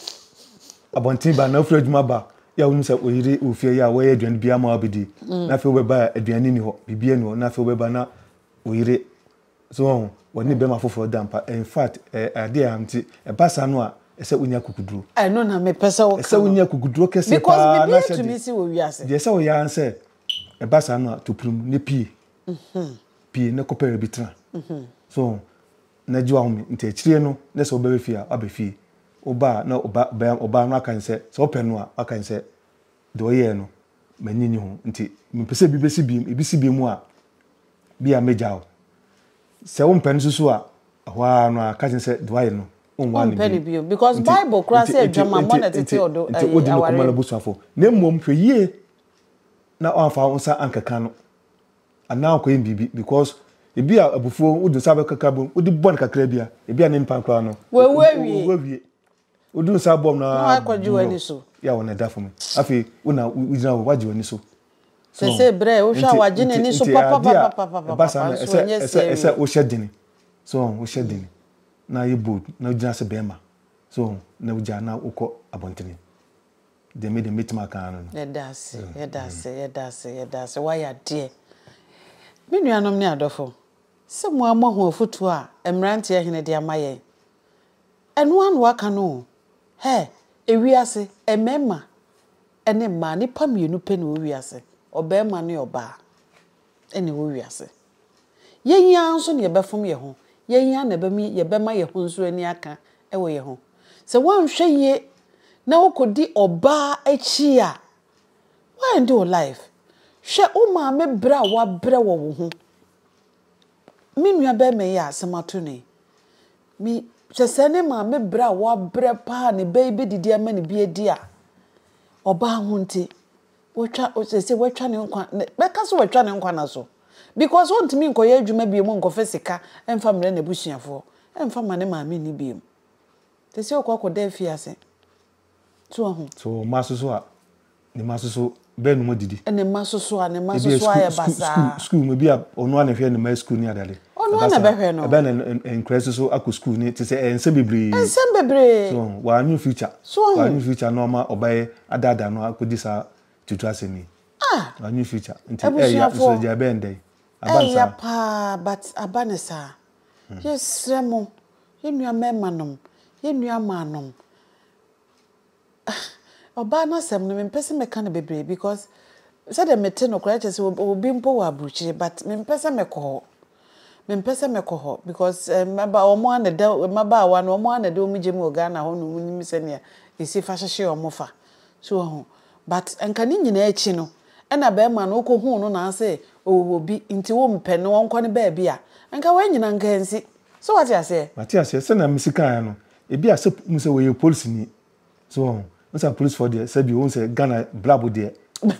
abɔnten ba na wofiri adwuma ba yɛ a wonim sɛ oyere wɔ fie yɛ a wɔyɛ aduane biara ma wabɛdi mm. na afei wobɛba a aduane ni hɔ biribiara ni hɔ na afei wobɛba na oyere So woahu? Wɔne barima foforɔ da mpa. In fact, ɛyɛ adeɛ a, nti ɛba saa no a, ɛsɛ sɛ wonya akukuduro. Ɛno na mepɛ sɛ woka no. Ɛsɛ sɛ wonya akukuduro kɛseɛ paa na hyɛ de. Because biribiara tumi si wɔ wiase. Deɛ ɛsɛ sɛ woyɛ ara ne sɛ, ɛba saa no a, to pirim na pue. Pue na kɔpɛ baabi tena. So woahu? Na gye w'ahome. Nti akyire no, na sɛ wobɛba fie a, woaba fie. Woba a, na ɔbaa no aka ne sɛ, sɛ wopɛ no a, waka ne sɛ. Deɛ ɔyɛɛ no, m'ani nni ho. Nti mempɛ sɛ ebi bɛsi bio. Ebi si bio mu a, bia mɛgya wo. Sɛ wompɛ no nso a, ɛhɔ ara no ara ka kyerɛ no sɛ deɛ wayɛ no, wonwaa no bio. Nti, nti, nti, nti, nti, nti wodi no kɔma n'abusuafo. Na mmom hwɛ yie na wamfa wo nsa ankeka no anaa wankɔyɛ no biribi because ebia abufuo, wode nsa bɛkeka bo, wode bɔ no kakra bi a, ebia ne mpan koraa no, wawu awie. Woduru saa bɔm no ara no, yɛ a na ɛda fam. Afei wo na wogyina hɔ, woagye w'ani so. Sese berɛ a wohwɛ a wagye n'ani so papapapapapa nso ɛnyɛ serious. Ɛsɛ wohyɛ dene, so wohyɛ dene na yɛ bold na wogyina sɛ bɛrima, so na wogya na wokɔ abɔntene. Deɛ me deɛ mɛtumi aka ara no no. Yɛda ase, yɛda ase, yɛda ase, yɛda ase, woayɛ adeɛ. Me nuanom ne adɔfo, sɛ mo ara moahu afotuo a mmeranteɛ hene de ama yɛn Ɛno ara na waka no o. Hɛ! Ewiase, mmarima ne mmaa, nnipa mmienu pɛ na ɛwɔ wiase, ɔbarima ne ɔbaa na ɛwɔ wiase. Yɛn yi ara nso na yɛbɛfom yɛn ho, yɛn yi ara na ɛbɛma yɛbɛma yɛn ho nso ani aka wɔ yɛn ho. Sɛ woanhwɛ yie na wokɔdi ɔbaa akyi a, woaɛnde wo life. Hwɛ wo maame brɛ a woabrɛ wɔ wo ho. Me nua barima yi a asɛm ato no yi, me, hwɛ sɛ ne maame berɛ a wabrɛ paa ne ba yi bɛdidi ama ne bi adi a, ɔbaa ho nti, watwa, sɛsɛ watwa ne nkwa, bɛka sɛ watwa ne nkwa na so. Because ɔntumi nkɔyɛ adwuma biom nkɔfa sika mfa mmerɛ n'abusuafoɔ, mfa ma ne maame nni biom. Sɛsɛ ɔkɔ akɔda afie ase. So wahu? So wɔ mma soso a, ne mma soso bɛn nom adidi? Ne mma soso a, ne mma soso ayɛ basaa. Sukuu mu bi a ɔno ana hwɛ ne mma sukuu ne adade. Ɔno ana bɛhwɛ no. Ɛbɛn na nkura soso akɔ sukuu ne te sɛ ɛyɛ nsɛm bebree. Nsɛm bebree. So wɔanwe future. So wɔn. Wɔanwe future na ɔma ɔbɛyɛ adaadaa no akɔdi saa tutu asɛm yi. Ah. Wɔanwe future. Nti ɛyɛ nso gya ɛbɛn dɛn. Aba ne saa. Ɛyɛ paa but aba ne saa. Yɛsrɛ mo, yɛn nuammarima-nom, yɛn nuammaa-nom, ɔbaa no asɛm no, mempɛ sɛ mɛka no bebree because sɛdeɛ mete no koraa kyerɛ sɛ ɔwɔ bi mpo wɔ aburukyire but mempɛ sɛ mɛkɔ hɔ. Mempɛ sɛ mɛkɔ hɔ because eh, mmaba wɔn ara na ɛda mmabaawa no wɔn ara na ɛde wɔn gya mu wɔ Ghana hɔ nom nim sɛnea ɛsi fa hyehye wɔn fa. So wɔ ho? But nka ne nyinaa akyi no ɛna bɛɛma no wokɔ huu no na asɛ ɔwɔ obi nti wo mpɛ no ɔnkɔ ne baabi a nka wei nyinaa nka ansi so wate aseɛ. Mate aseɛ sɛnea mesi kaeɛ no ebi a sɛ wohu sɛ ɔyɛ polisini so wɔ ho wohu sɛ apolisifoɔ deɛ sɛbi wohu sɛ Ghana brabo deɛ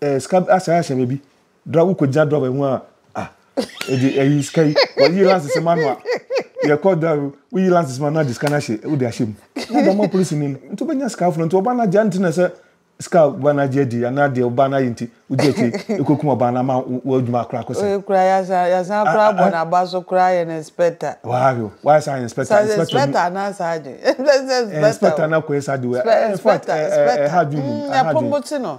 eh, sika asɛe ahyɛ me bi dra wokɔgyina dra bɛho a ah ɛde ayi sika yi wɔyi lances ma no a yɛkɔ dra woyi lances ma no agye sika no ahyɛ wode ahyɛ mu na dama polisi ni no nti wobɛnya sika aforo nti ɔba no agye nti na sɛ sika ɔba no agye adi anaa deɛ ɔba no ayɛ nti wogye akyi ɛkɔkum ɔba no ama wɔadwuma akora akɔ sɛ kura yɛsan kora bɔ n'aba so kora yɛ no inspector waayo waayɛ saa inspector inspector anaa saa agye inspector na kɔyɛ saa de wɔ ɛfɔ ɛha dwuma mu ɛha dwuma mu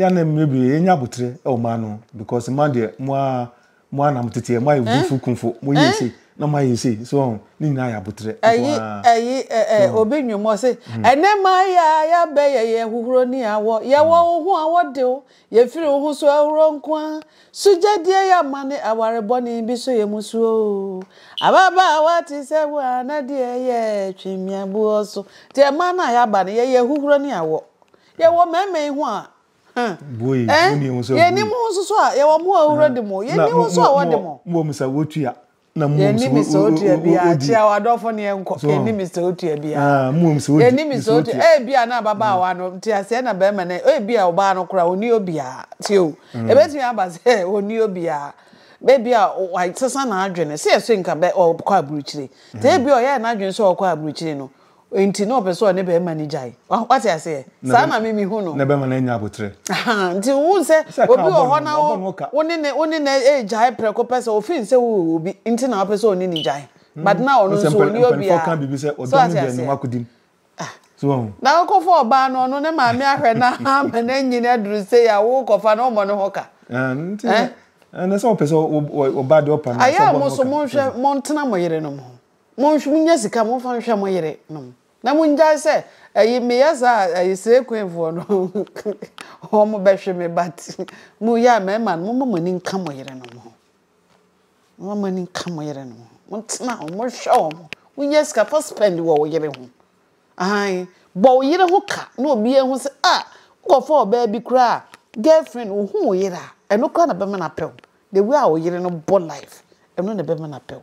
Yɛn na mmea bi yɛnya abotire wɔ mmaa no because mmaa deɛ mo a mo a na mo tete yɛ mo ayɛ eh? vumfo kumfo mo yɛ ese eh? na mo ayɛ ese so ɔn ne nyinaa yɛ abotire. Ɛyi ɛyi ɛɛ obi nwom ɔse hmm. ɛnɛ maa yɛ a yɛabɛyɛ yɛ huhuro ne awɔ yɛwɔ hmm. wo ho a wɔde wo yɛfiri wo ho so ahuro nko a sugyadie yɛ ama ne aware bɔne bi so yɛ mu suo ababaawa te sɛ wo a na deɛ yɛ twemiaboɔ so deɛ mmaa no a yɛaba no yɛyɛ huhuro ne awɔ. Yɛwɔ mmarima yi ho a, huh? Boy, eh? Woni ho sɛ Yɛni mo ho nso so a, yɛwɔ mo a owura de mo. Yɛni ho nso a wɔde mo. Mo wɔ mo sɛ wotua. Na mo wɔ mo sɛ wodi. Yɛni Mr. Otua bia, kyia w'adɔfo ne yɛnkɔ. Yɛni Mr. Otua bia. Mo wɔ mo sɛ wodi. Yɛni Mr. Otua. Eh, bia na ababaawa no, nteaseɛ na barima no, eh, bia ɔbaa no koraa, ɔni obia. Tie o, ɛbɛtumi aba sɛ ɔni obia. Bɛ bia wasesa n'adwene, sɛ yɛse nka bɛ ɔkɔ aburukyire. Te bia ɔyɛɛ n'adwene sɛ ɔkɔ aburukyire no, Nti na ɔpɛ sɛ ɔne bɛɛma no gyae wate aseɛ saa na me mehu no. Na bɛɛma no anya aboterɛ. Ahaa nti wo hu sɛ obi wɔ hɔ na wo wo ne ne wo ne ne ɛɛgyae prɛko pɛ sɛ ɔfeel sɛ wo wɔ obi nti na wopɛ sɛ ɔne ne gyae but na ɔno nso ɔnni obiaa so wate aseɛ na wo kɔfa ɔbaa no ɔno ne maame ahwɛ no ama no anyini aduru sei a wo kɔfa no ɔmmɔ ne ho ka ɛɛ. Ɛnɛ sɛ ɔpɛ sɛ ɔba deɛ ɔpa no. Ayɛ a mo nso monhwɛ montena mo yerenom ho. Monhw monya sika momfa nhwɛ mo yere nom na mongyae sɛ ɛyi meyɛ saa a ɛyi slay queen foɔ no wɔn bɛhwe me but mo yɛ a mɛɛma no momma mo ani nka mo yere nom ho momma mo ani nka mo yere nom ho montena ho mohwɛ wɔn wonya sika fa spend wɔ wo yere ho ahan bɔ wo yere ho ka na obi ehu sɛ a ah, wokɔfa ɔbaa bi koraa girlfriend wohu wo yere a ɛno koraa na bɛma no apɛw the way a wo yere no bɔ life ɛno na bɛma no apɛw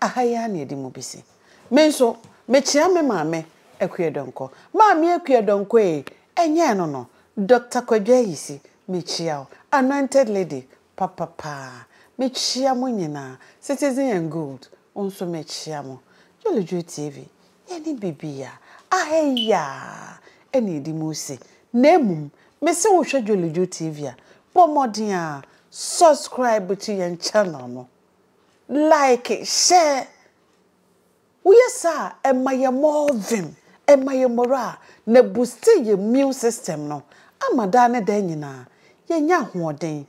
Aha yi ara na yɛde mu besi. Me nso, mekyea me maame, Akua Donkɔ. Maame Akua Donkɔ ee, ɛnyɛ ɛno no, Dɔkta Kwadwo Ayisi, mekyea wo, Anointed Lady, papa paa. Mekyea mo nyinaa, Citizen and Gold, wo nso mekyea mo. Jolly Joy TV, yɛne biribiara, aha yi ara na yɛde mu resi. Na mmom, mese wohwɛ Jolly Joy TV a, bɔ mmɔden ara subscribe to yɛn channel no. Like hyɛ. Woyɛ saa a, ɛma yɛn more vim, ɛma yɛn morale, na ɛbuste yɛn immune system no ama daa ne daa nyinaa yɛanya ahoɔden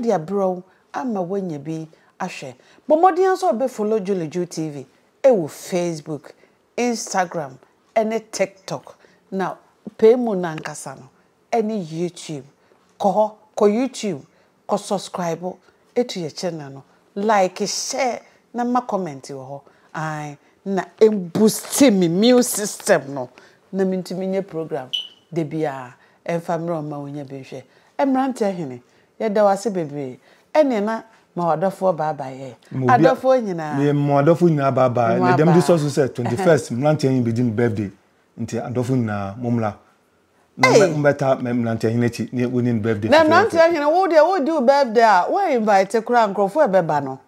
de abrɛ wo ama woanya bi ahwɛ. Bɔ mmɔden ara nso a wobɛ follow Julie Ju TV wɔ Facebook, Instagram ne TikTok, na pɛ mu no ankasa no ne YouTube. Kɔ hɔ, kɔ YouTube Kɔ subscribe to yɛ channel no like share na ma comment wɔ hɔ ae na emboost me mule system no na mentumi nyɛ program dabiaa ɛmfa mmerɛ ɔmma wonya bi nhwɛ mmeranteɛ hene yɛda wo ase bebree ɛneɛ na ma wadɔfoɔ bye bye ɛ adɔfoɔ nyinaa. Me ma adɔfoɔ nyinaa bye bye na dɛm de sɔ so sɛ twenty first mmeranteɛ he bɛdi ne birthday nti adɔfoɔ nyinaa mommra. na Hey! mɛ- mɛtaa mɛ- mmeranteɛ hene akyi ne wɔni no birthday na fɛfɛɛfɛ. mmeranteɛ hene wo deɛ wodi wo birthday a woa invite koraa nkurɔfoɔ a ɛbɛba no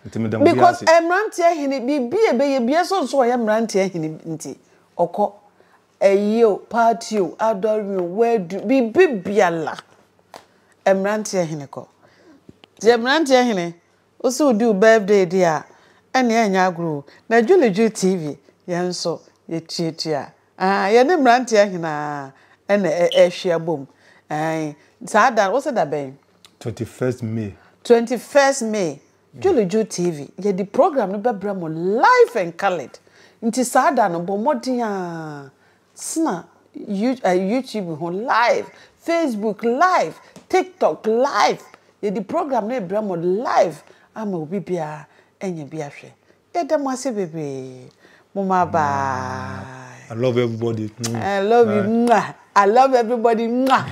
nti meda mo biara because ase mmeranteɛ hene biribi a ɛbɛyɛ bia so nso ɔyɛ mmeranteɛ hene nti ɔkɔ ɛyi o party o adɔre o wadu biribi biala mmeranteɛ hene kɔ deɛ mmeranteɛ hene Wo se wo di wo birthday di a ɛneɛ ɛnyɛ agorɔ o na Dwuledwule TV yɛn nso yɛ tuatua aah yɛne mmeranteɛ ahenaa ɛna ɛhwia bom aah saa da wo se da bɛn? Twenty first May. Twenty first May Dwuledwule TV yɛde program no bɛbrɛ mo live and coloured nti saa da no bɔ mmɔden aah Sena YouTube ho live, Facebook live, TikTok live, yɛde program no rebrɛ mo live ama obi biara anya bi ahwɛ. Yɛda mo ase bebree. Momma bye. I love everybody. I love you. I love everybody.